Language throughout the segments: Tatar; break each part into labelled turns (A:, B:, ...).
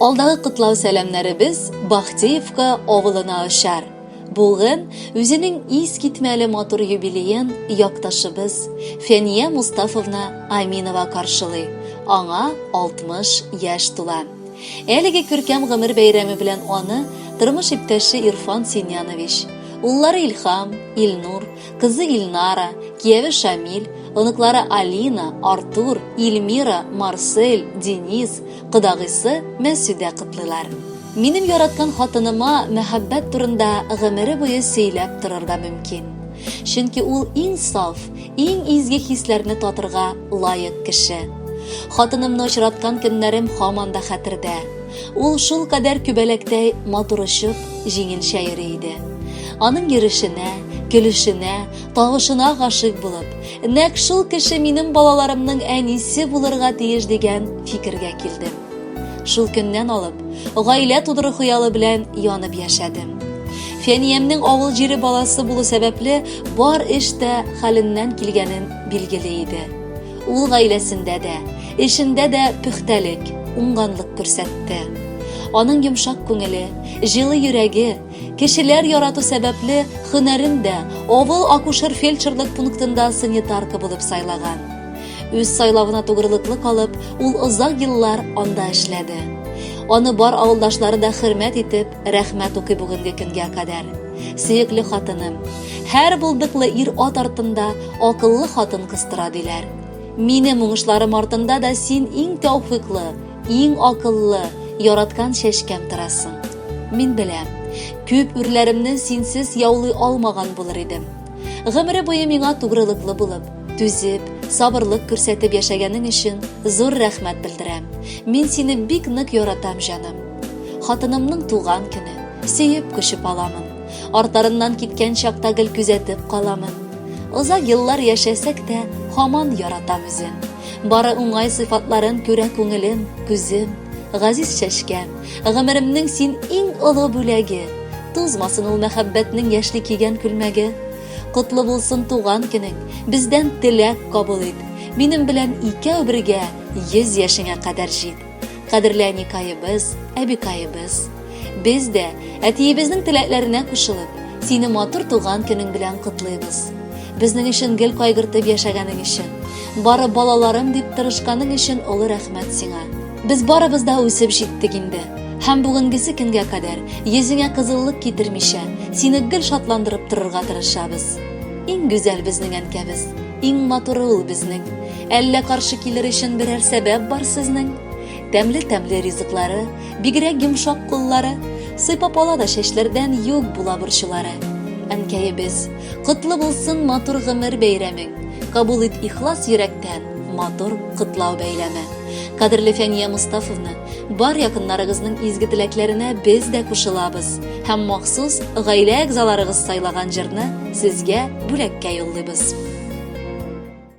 A: Алдагы котлау сәламнәребез Бахтеевка авылына очар. Бүген үзенең искитмәле матур юбилеен якташыбыз Фәния Мустафовна Аминова каршылый. Аңа 60 яшь тула. Әлеге күркәм гомер бәйрәме белән аны тормыш иптәше Ирфан Синьянович, уллары Илхам, Илнур, Кызы Ильнара, кияве Шамиль, оныклары Алина, Артур, Ильмира, Марсель, Денис, кодагыйсы Мәсүдә котлыйлар. Минем яраткан хатыныма мәхәббәт турында гомере буе сөйләп торырга мөмкин. Чөнки ул иң саф, иң изге хисләрне татырга лаек кеше. Хатынымны очраткан көннәрем һаман да хәтердә. Ул шул кадәр күбәләктәй матур очып, җиңелчә йөри иде. Аның йөрешенә, көлешенә, тавышына гашыйк булып, нәкъ шул кеше минем балаларымның әнисе булырга тиеш дигән фикергә килдем. Шул көннән алып, гаилә тудыру хыялы белән янып яшәдем. Фәниямнең авыл җире баласы булу сәбәпле, бар эш тә хәленнән килгәнен билгели иде. Ул гаиләсендә дә, эшендә дә пөхтәлек, уңганлык күрсәтте. Аның йомшак күңеле, җылы йөрәге, кешеләр ярату сәбәпле хөнәрен дә авыл акушер-фельдшерлык пунктында санитарка булып сайлаган. Үз сайлавына тугрылыклы калып, ул озак еллар анда эшләде. Аны бар авылдашлары да хөрмәт итеп, Рәхмәт укый бүгенге көнгә кадәр. Сөекле хатыным, һәр булдыклы ир ат артында акыллы хатын кыстыра диләр. Минем уңышларым артында да син иң тәүфиклы, иң акыллы, яраткан чәчкәм торасың. Мин беләм, күп үрләремне синсез яулый алмаган булыр идем. Гомере буе миңа тугрылыклы булып, түзеп, сабырлык күрсәтеп яшәгәнең өчен зур рәхмәт белдерәм. Мин сине бик нык яратам, җаным. Хатынымның туган көне, сөеп көшеп аламын. Артарыннан киткән чакта гел күзәтеп каламын. Озак еллар яшәсәк тә, хаман яратам үзен. Бары уңай сыйфатларын күрә күңелем, күзем, газиз чәчкәм, гомеремнең син иң олы бүләге. Тузмасын ул мәхәббәтнең яшьли кигән күлмәге. Котлы булсын туган көнең, бездән теләк кабул ит. Минем белән икәү бергә, йөз яшеңә кадәр җит. Кадерле әникаебез, әбикаебыз, без дә әтиебезнең теләкләренә кушылып, сине матур туган көнең белән котлыйбыз. Безнең өчен гел кайгыртып яшәгәнең өчен, бары балаларым дип тырышканың өчен олы рәхмәт сиңа. Без барыбыз да үсеп җиттек инде. Һәм бүгенгесе көнгә кадәр йөзеңә кызыллык китермичә, сине гел шатландырып торырга тырышабыз. Иң гүзәл безнең әнкәбез, иң матуры ул безнең. Әллә каршы килер өчен берәр сәбәп бар сезнең? Тәмле-тәмле ризыклары, бигрәк йомшак куллары, сыйпап ала да чәчләрдән юк була борчулары. Әнкәебез, котлы булсын матур гомер бәйрәмең. Кабул ит ихлас йөрәктән матур котлау бәйләме. Кадерле Фәния Мустафовна, бар якыннарыгызның изге теләкләренә без дә кушылабыз һәм махсус гаилә әгъзаларыгыз сайлаган җырны сезгә бүләккә юллыйбыз.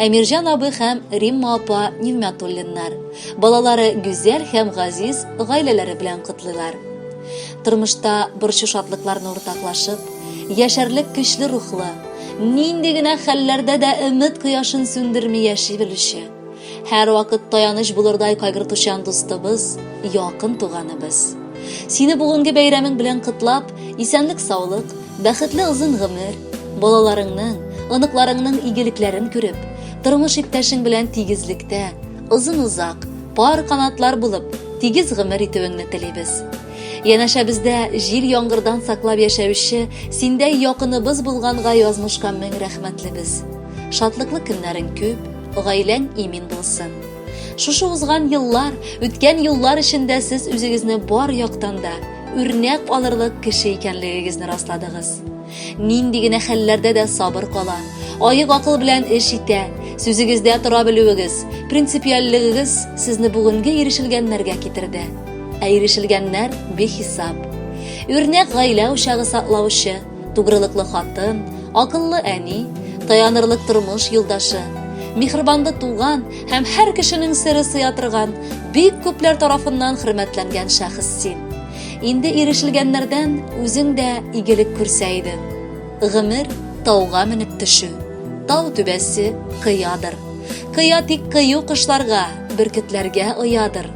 A: Әмирҗан абый һәм Римма апа Нигъмәтуллиннар, балалары Гүзәл һәм Газиз гаиләләре белән котлыйлар. Тормышта борчу шатлыкларны уртаклашып, яшәрлек көчле рухлы, нинди генә хәлләрдә дә өмет кояшын сүндерми яши белүче, һәрвакыт таяныч булырдай кайгыртучан дустыбыз, якын туганыбыз. Сине бүгенге бәйрәмең белән котлап, исәнлек-саулык, Бәхетле озын гомер, балаларыңның, оныкларыңның игелекләрен күреп, тормыш иптәшең белән тигезлектә, озын-озак, пар канатлар булып, тигез гомер итүеңне телибез. Янәшәбездә җил яңгырдан саклап яшәүче синдәй якыныбыз булганга язмышка мең рәхмәтлебез. Шатлыклы көннәрең күп, гаиләң имин булсын. Шушы узган еллар, үткән юллар эчендә сез үзегезне бар яктан да, үрнәк алырлык кеше икәнлегегезне расладыгыз. Нинди генә хәлләрдә дә сабыр кала, аек акыл белән эш итә, сүзегездә тора белүегез, принципиальлегегез сезне бүгенге ирешелгәннәргә китерде. Ә ирешелгәннәр бихисап. Үрнәк гаилә учагы саклаучы, Тугрылыклы хатын, акыллы әни, таянырлык тормыш юлдашы, михрибанлы туган һәм һәр кешенең сыры сыя торган, бик күпләр тарафыннан хөрмәтләнгән шәхес син. Инде ирешелгәннәрдән үзең дә игелек күрсә идең. Гомер тауга менеп төшү, тау түбәсе кыядыр. Кыя тик кыю кошларга, бөркетләргә оядыр.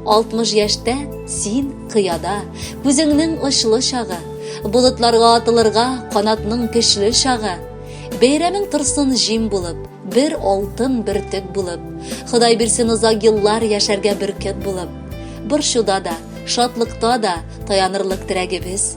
A: 60 яшьтә син кыяда, күзеңнең очлы чагы, болытларга атылырга канатның көчле чагы. Бәйрәмең торсын җим булып, бер алтын бөртек булып, Ходай бирсен озак еллар яшәргә бөркет булып. Борчуда да, шатлыкта да таянырлык терәгебез,